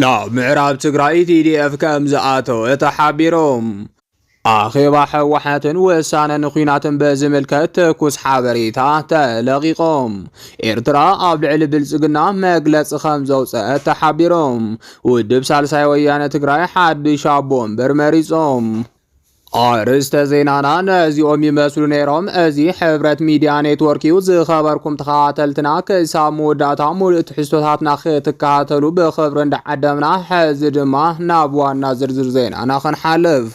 ናብ ምዕራብ ትግራይ ቲዲኤፍ ከምዝኣተወ ተሓቢሩ። ኣኼባ ህወሓትን ውሳነ ንኲናትን ብዝምልከት ትኩስ ሓበሬታ ተለቒቑ። ኤርትራ ኣብ ልዕሊ ብልጽግና መግለጺ ከምዘውፀአት ተሓቢሩ። ውድብ ሳልሳይ ወያነ ትግራይ ሓድሽ ኣቦ ወንበር መሪጹ። ኣርእስተ ዜናና ነዚኦም ይመስሉ ነይሮም። እዚ ሕብረት ሚድያ ኔትወርክ እዩ። ዝኸበርኩም ተኸታተልትና ክሳብ መወዳእታ ሙሉእ ትሕዝቶታትና ክትከታተሉ ብኽብሪ እንዳዓደምና ሕዚ ድማ ናብ ዋና ዝርዝር ዜናና ክንሓልፍ።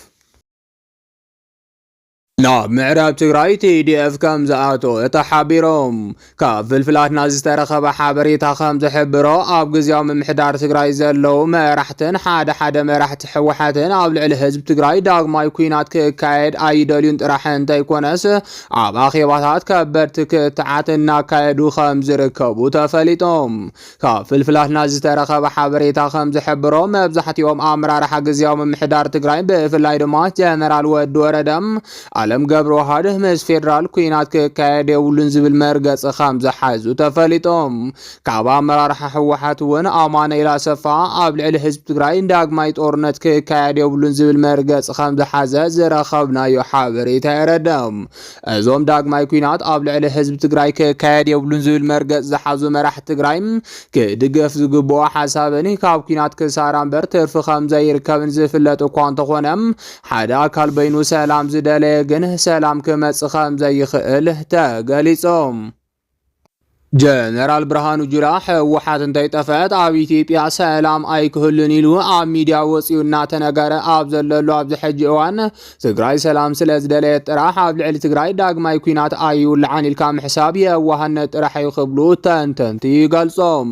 ናብ ምዕራብ ትግራይ ቲዲኤፍ ከም ዝኣተወ ተሓቢሮም ካብ ፍልፍላትና ዝተረኸበ ሓበሬታ ከም ዝሕብሮ ኣብ ግዝያዊ ምምሕዳር ትግራይ ዘለዉ መራሕትን ሓደ ሓደ መራሕቲ ሕወሓትን ኣብ ልዕሊ ህዝቢ ትግራይ ዳግማይ ኩናት ክካየድ ኣይደልዩን ጥራሕ እንተይኮነስ ኣብ ኣኼባታት ከበድቲ ክትዓት እናካየዱ ከም ዝርከቡ ተፈሊጦም ካብ ፍልፍላትና ዝተረኸበ ሓበሬታ ከምዝሕብሮ መብዛሕቲኦም ኣመራርሓ ግዝያዊ ምምሕዳር ትግራይ ብፍላይ ድማ ጀነራል ወዲ ወረደ ኣለም ገብረዋህድ ምስ ፌዴራል ኩናት ክካየድ የብሉን ዝብል መርገፂ ከምዝሓዙ ተፈሊጦም ካብ ኣመራርሓ ህወሓት እውን ኣማኑኤል ኣሰፋ ኣብ ልዕሊ ህዝቢ ትግራይ ዳግማይ ጦርነት ክካየድ የብሉን ዝብል መርገፂ ከምዝሓዘ ዝረኸብናዮ ሓበሬታ የረድእ። እዞም ዳግማይ ኩናት ኣብ ልዕሊ ህዝቢ ትግራይ ክካየድ የብሉን ዝብል መርገፅ ዝሓዙ መራሕቲ ትግራይ ክድገፍ ዝግብኦ ሓሳብን ካብ ኩናት ክሳራ እምበር ትርፊ ከም ዘይርከብን ዝፍለጥ እኳ እንተኾነ ሓደ ኣካል በይኑ ሰላም ዝደለየ ግን ሰላም ክመፅእ ከም ዘይኽእል ተገሊፆም። ጀነራል ብርሃኑ ጁላ ህወሓት እንተይጠፈአት ኣብ ኢትዮጵያ ሰላም ኣይክህሉን ኢሉ ኣብ ሚዲያ ወፂኡ እናተነገረ ኣብ ዘለሉ ኣብዚ ሕጂ እዋን ትግራይ ሰላም ስለ ዝደለየት ጥራሕ ኣብ ልዕሊ ትግራይ ዳግማይ ኩናት ኣይውልዓን ኢልካ ምሕሳብ የዋህነት ጥራሕ እዩ ክብሉ ተንተንቲ ይገልፆም።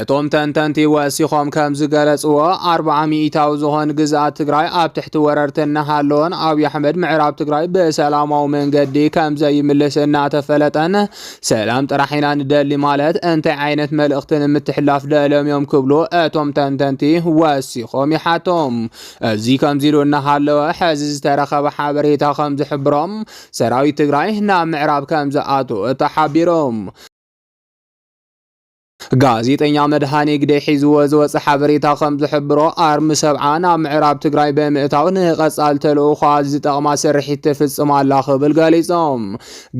እቶም ተንተንቲ ወሲኾም ከም ዝገለጽዎ ኣርብዓ ሚኢታዊ ዝኾን ግዝኣት ትግራይ ኣብ ትሕቲ ወረርቲ እናሃለወን ኣብዪ ኣሕመድ ምዕራብ ትግራይ ብሰላማዊ መንገዲ ከም ዘይምልስ እናተፈለጠን ሰላም ጥራሕ ኢና ንደሊ ማለት እንታይ ዓይነት መልእኽቲ ንምትሕላፍ ደልዮም እዮም ክብሉ እቶም ተንተንቲ ወሲኾም ይሓቶም። እዚ ከምዚ ኢሉ እናሃለወ ሕዚ ዝተረኸበ ሓበሬታ ከም ዝሕብሮም ሰራዊት ትግራይ ናብ ምዕራብ ከም ዝኣትወ ተሓቢሮም። ጋዜጠኛ መድሃኔ ግደይ ሒዝዎ ዝወፀ ሓበሬታ ከም ዝሕብሮ ኣርሚ ሰብዓ ናብ ምዕራብ ትግራይ ብምእታው ንቐፃሊ ተልእኾኣ ዝጠቕማ ስርሒት ትፍፅም ኣላ ክብል ገሊፆም።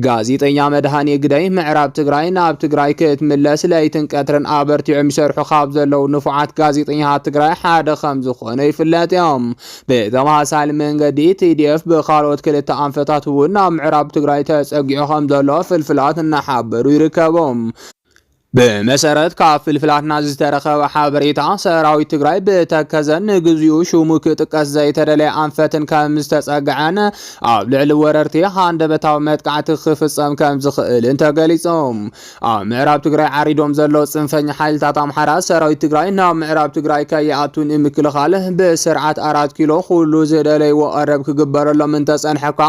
ጋዜጠኛ መድሃኔ ግደይ ምዕራብ ትግራይ ናብ ትግራይ ክትምለስ ለይትን ቀትርን ኣበርቲዖም ይሰርሑ ካብ ዘለዉ ንፉዓት ጋዜጠኛታት ትግራይ ሓደ ከም ዝኾኑ ይፍለጥ እዮም። ብተመሳሳሊ መንገዲ ቲዲኤፍ ብካልኦት ክልተ ኣንፈታት እውን ናብ ምዕራብ ትግራይ ተፀጊዑ ከም ዘሎ ፍልፍላት እናሓበሩ ይርከቡ። ብመሰረት ካብ ፍልፍላትና ዝተረኸበ ሓበሬታ ሰራዊት ትግራይ ብተከዘን ንግዚኡ ሽሙ ክጥቀስ ዘይተደለየ ኣንፈትን ከም ዝተፀግዐን ኣብ ልዕሊ ወረርቲ ሃንደበታዊ መጥቃዕቲ ክፍፀም ከም ዝኽእልን ተገሊፆም። ኣብ ምዕራብ ትግራይ ዓሪዶም ዘለዉ ፅንፈኛ ሓይልታት ኣምሓራ ሰራዊት ትግራይ ናብ ምዕራብ ትግራይ ከይኣቱ ንምክልኻል ብስርዓት ኣራት ኪሎ ኩሉ ዝደለይዎ ቀረብ ክግበረሎም እንተፀንሐኳ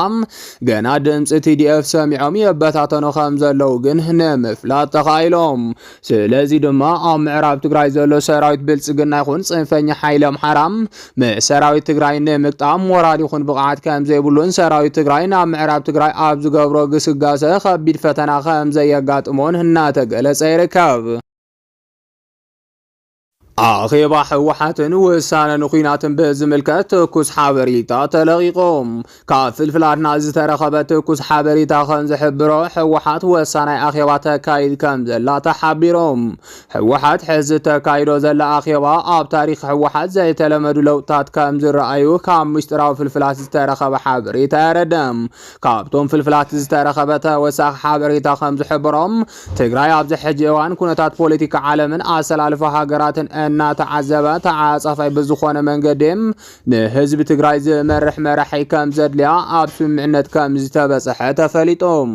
ገና ድምፂ ቲዲኤፍ ሰሚዖም የበታተኑ ከም ዘለዉ ግን ንምፍላጥ ተኻኢሎም። ስለዚ ድማ ኣብ ምዕራብ ትግራይ ዘሎ ሰራዊት ብልፅግና ይኹን ፅንፈኛ ሓይሊ ኣምሓራ ንሰራዊት ትግራይ ንምግጣም ሞራል ይኹን ብቕዓት ከምዘይብሉን ሰራዊት ትግራይ ናብ ምዕራብ ትግራይ ኣብ ዝገብሮ ግስጋሰ ከቢድ ፈተና ከምዘየጋጥሞን እናተገለጸ ይርከብ። ኣኼባ ህወሓትን ውሳነ ንኲናትን ብዝምልከት ትኩስ ሓበሬታ ተለቒቑ። ካብ ፍልፍላትና ዝተረኸበ ትኩስ ሓበሬታ ከም ዝሕብሮ ህወሓት ወሳናይ ኣኼባ ተካይድ ከም ዘላ ተሓቢሮም። ህወሓት ሕዚ ተካይዶ ዘላ ኣኼባ ኣብ ታሪክ ህወሓት ዘይተለመዱ ለውጥታት ከም ዝረኣዩ ካብ ምስጢራዊ ፍልፍላት ዝተረኸበ ሓበሬታ የረደም። ካብቶም ፍልፍላት ዝተረኸበ ተወሳኺ ሓበሬታ ከም ዝሕብሮም ትግራይ ኣብዚ ሕጂ እዋን ኩነታት ፖለቲካ ዓለምን ኣሰላልፋ ሃገራትን እናተዓዘበ ተዓጻፋይ ብዝኾነ መንገዲ ንህዝቢ ትግራይ ዝመርሕ መራሒ ከም ዘድልያ ኣብ ስምምዕነት ከም ዝተበፀሐ ተፈሊጦም።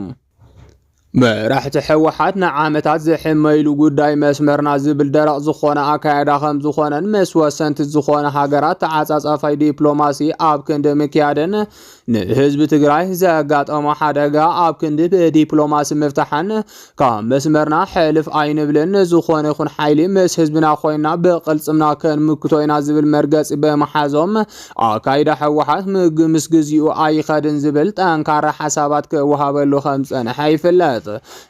መራሕቲ ሕወሓት ንዓመታት ዝሕመይሉ ጉዳይ መስመርና ዝብል ደረቕ ዝኾነ ኣካያዳ ከም ዝኾነን ምስ ወሰንቲ ዝኾነ ሃገራት ተዓፃፃፋይ ዲፕሎማሲ ኣብ ክንዲ ምክያድን ንህዝቢ ትግራይ ዘጋጠሞ ሓደጋ ኣብ ክንዲ ብዲፕሎማሲ ምፍታሕን ካብ መስመርና ሕልፍ ኣይንብልን፣ ዝኾነ ይኹን ሓይሊ ምስ ህዝብና ኮይና ብቕልፅምና ክንምክቶ ኢና ዝብል መርገፂ ብምሓዞም ኣካይዳ ህወሓት ምስ ግዚኡ ኣይኸድን ዝብል ጠንካራ ሓሳባት ክወሃበሉ ከም ዝፀንሐ ይፍለጥ።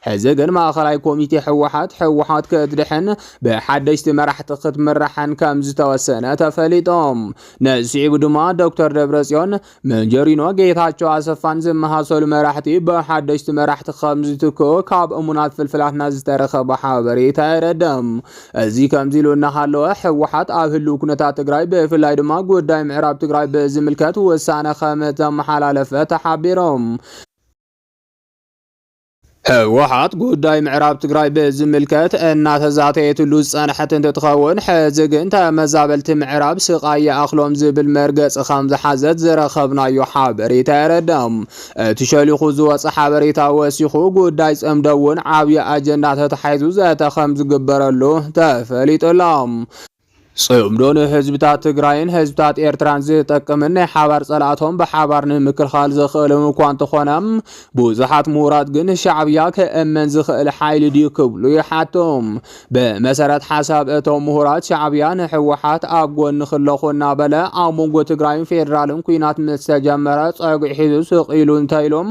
ሕዚ ግን ማእኸላይ ኮሚቴ ህወሓት ህወሓት ክትድሕን ብሓደሽቲ መራሕቲ ክትምራሕን ከም ዝተወሰነ ተፈሊጦም ንስዒቡ ድማ ዶክተር ደብረጽዮን፣ መንጀሪኖ፣ ጌታቸው ኣሰፋን ዝመሳሰሉ መራሕቲ ብሓደሽቲ መራሕቲ ከም ዝትክኡ ካብ እሙናት ፍልፍላትና ዝተረኸበ ሓበሬታ የረድእ። እዚ ከምዚ ኢሉ እናሃለወ ህወሓት ኣብ ህልው ኩነታት ትግራይ ብፍላይ ድማ ጉዳይ ምዕራብ ትግራይ ብዝምልከት ውሳነ ከም ተመሓላለፈ ተሓቢሮም። ህወሓት ጉዳይ ምዕራብ ትግራይ ብዝምልከት እናተዛተየትሉ ዝፀንሐት እንትትኸውን ሕዚ ግን ተመዛበልቲ ምዕራብ ስቓይ ይኣኽሎም ዝብል መርገፂ ከም ዝሓዘት ዝረኸብናዮ ሓበሬታ የረዳም። እቲ ሸሊኹ ዝወፀ ሓበሬታ ወሲኹ ጉዳይ ፅምዶ እውን ዓብዪ ኣጀንዳ ተታሒዙ ዘተ ከም ዝግበረሉ ተፈሊጡ ኣሎ። ጽምዶ ንህዝብታት ትግራይን ህዝብታት ኤርትራን ዝጠቅምን ናይ ሓባር ጸላእቶም ብሓባር ንምክልኻል ዘኽእልም እኳ እንተኾነ ብዙሓት ምሁራት ግን ሻዕብያ ክእመን ዝኽእል ሓይሊ ድዩ ክብሉ ይሓቱ። ብመሰረት ሓሳብ እቶም ምሁራት ሻዕብያ ንሕወሓት ኣብ ጎኒ ክለኹ እናበለ ኣብ መንጎ ትግራይን ፌዴራልን ኩናት ምስ ተጀመረ ጸግዒ ሒዙ ስቕ ኢሉ እንተኢሎም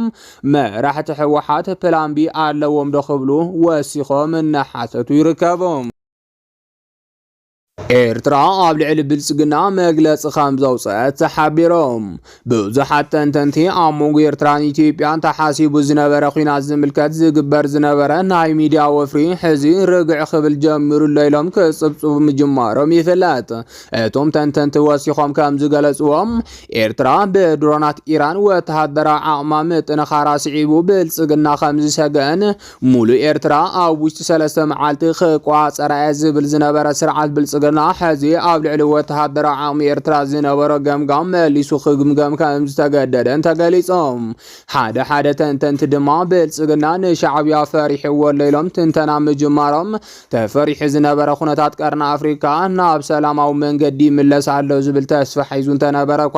መራሕቲ ሕወሓት ፕላን ቢ ኣለዎም ዶ ክብሉ ወሲኾም እናሓተቱ ይርከቡ። ኤርትራ ኣብ ልዕሊ ብልጽግና መግለጺ ከም ዘውጽአት ተሓቢሮም። ብዙሓት ተንተንቲ ኣብ መንጎ ኤርትራን ኢትዮጵያን ተሓሲቡ ዝነበረ ኲናት ዝምልከት ዝግበር ዝነበረ ናይ ሚድያ ወፍሪ ሕዚ ርግዕ ክብል ጀሚሩ ኣሎ ኢሎም ክጽብጽቡ ምጅማሮም ይፍለጥ። እቶም ተንተንቲ ወሲኾም ከም ዝገለጽዎም ኤርትራ ብድሮናት ኢራን ወተሃደራዊ ዓቕማ ምጥንኻራ ስዒቡ ብልጽግና ከም ዝሰገአን ሙሉእ ኤርትራ ኣብ ውሽጢ ሰለስተ መዓልቲ ክቋጸራ'የ ዝብል ዝነበረ ስርዓት ብልጽግና፣ ሕዚ ኣብ ልዕሊ ወተሃደራዊ ዓቕሚ ኤርትራ ዝነበሮ ገምጋም መሊሱ ክግምገም ከም ዝተገደደን ተገሊጹ። ሓደ ሓደ ተንተንቲ ድማ ብልጽግና ንሻዕብያ ፈሪሕዎ'ሎ ኢሎም ትንተና ምጅማሮም፣ ተፈሪሑ ዝነበረ ኩነታት ቀርኒ ኣፍሪቃ ናብ ሰላማዊ መንገዲ ይምለስ ኣሎ ዝብል ተስፋ ሒዙ እንተነበረ'ኳ፣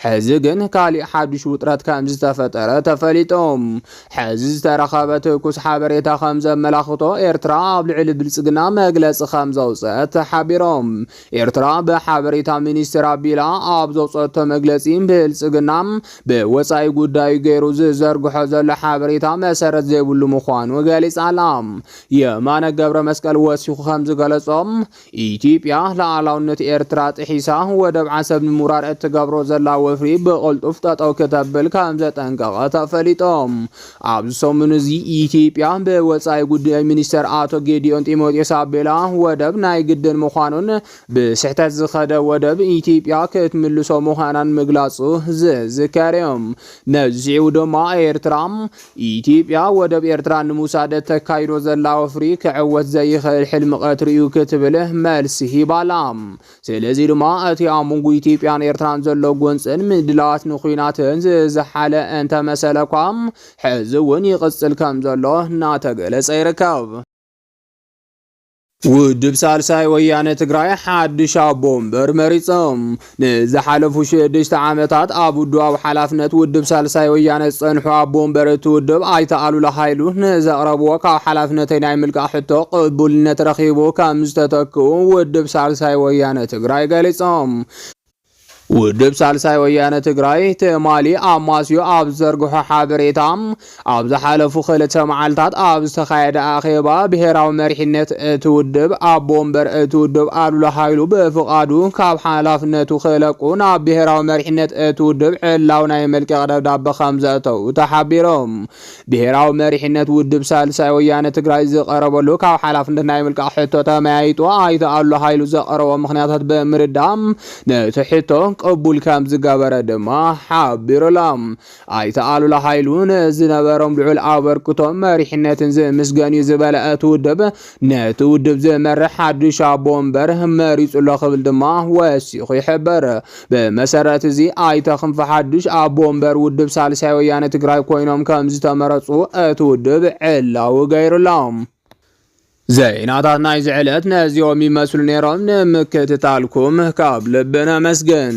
ሕዚ ግን ካሊእ ሓዱሽ ውጥረት ከም ዝተፈጠረ ተፈሊጡ። ሕዚ ዝተረኸበ ትኩስ ሓበሬታ ከምዘመላኽቶ ኤርትራ ኣብ ልዕሊ ብልጽግና መግለጺ ከምዘውጸት ተሓቢሮም። ኤርትራ ብሓበሬታ ሚኒስትር ኣቢላ ኣብ ዘውጸቶ መግለጺ ብልጽግና ብወጻኢ ጉዳዩ ገይሩ ዝዘርግሖ ዘሎ ሓበሬታ መሰረት ዘይብሉ ምዃኑ ገሊጻ ኣላ። የማነ ገብረመስቀል ወሲኹ ከምዝገለጾ ኢትዮጵያ ሉኣላውነት ኤርትራ ጥሒሳ ወደብ ዓሰብ ንምውራር እትገብሮ ዘላ ወፍሪ ብቕልጡፍ ጠጠው ክተብል ከም ዘጠንቀቐ ተፈሊጦ። ኣብዚ ሰሙን እዚ ኢትዮጵያ ብወጻኢ ጉዳይ ሚኒስተር ኣቶ ጌዲዮን ጢሞቴዎስ ኣቢላ ወደብ ናይ ግድን ምዃኑን ብስሕተት ዝኸደ ወደብ ኢትዮጵያ ክትምልሶ ምዃናን ምግላጹ ዝዝከር እዩ። ነዚ ስዒቡ ድማ ኤርትራ ኢትዮጵያ ወደብ ኤርትራ ንምውሳድ እተካይዶ ዘላ ወፍሪ ክዕወት ዘይኽእል ሕልሚ ቀትሪ'ዩ ክትብል መልሲ ሂባ'ላ። ስለዚ ድማ እቲ ኣብ መንጎ ኢትዮጵያን ኤርትራን ዘሎ ጎንጽን ምድላዋት ንኲናትን ዝዘሓለ እንተመሰለ'ኳ ሕዚ'ውን ይቕጽል ከምዘሎ እናተገለጸ ይርከብ። ውድብ ሳልሳይ ወያነ ትግራይ ሓድሽ ኣቦ ወንበር መሪጾም። ንዝሓለፉ ሽዱሽተ ዓመታት ኣብ ውድባዊ ሓላፍነት ውድብ ሳልሳይ ወያነ ዝጸንሑ ኣቦ ወንበር እቲ ውድብ ኣይተ ኣሉላ ሃይሉ ንዘቕረብዎ ካብ ሓላፍነተይ ናይ ምልቃቕ ሕቶ ቅቡልነት ረኺቡ ከም ዝተተክኡ ውድብ ሳልሳይ ወያነ ትግራይ ገሊጾም። ውድብ ሳልሳይ ወያነ ትግራይ ትማሊ ኣማስዩ ኣብ ዝዘርግሖ ሓበሬታ ኣብ ዝሓለፉ ክልተ መዓልታት ኣብ ዝተኻየደ ኣኼባ ብሄራዊ መሪሕነት እቲ ውድብ ኣቦ ወንበር እቲ ውድብ ኣሉላ ሃይሉ ብፍቓዱ ካብ ሓላፍነቱ ክለቁ ናብ ብሄራዊ መሪሕነት እቲ ውድብ ዕላዊ ናይ መልቀቕ ደብዳበ ከም ዘእተው ተሓቢሮም ብሄራዊ መሪሕነት ውድብ ሳልሳይ ወያነ ትግራይ ዝቐረበሉ ካብ ሓላፍነት ናይ ምልቃቕ ሕቶ ተመያይጡ ኣይተ ኣሉ ሃይሉ ዘቐረቦ ምኽንያታት ብምርዳእ ነቲ ሕቶ ቅቡል ከም ዝገበረ ድማ ሓቢሩላ ኣይተ ኣሉላ ሃይሉ ንዝነበሮም ልዑል ኣበርክቶ መሪሕነትን ዝምስገን እዩ ዝበለ እቲ ውድብ ነቲ ውድብ ዝመርሕ ሓድሽ ኣቦ ወንበር መሪጹ'ሎ ክብል ድማ ወሲኹ ይሕብር። ብመሰረት'ዚ ኣይተ ክንፈ ሓድሽ ኣቦ ወንበር ውድብ ሳልሳይ ወያነ ትግራይ ኮይኖም ከምዝተመረጹ እቲ ውድብ ዕላዊ ገይሩ'ሎ። ዜናታት ናይዚ ዕለት ነዚኦም ይመስሉ ነይሮም። ንምክትታልኩም ካብ ልቢ ነመስግን።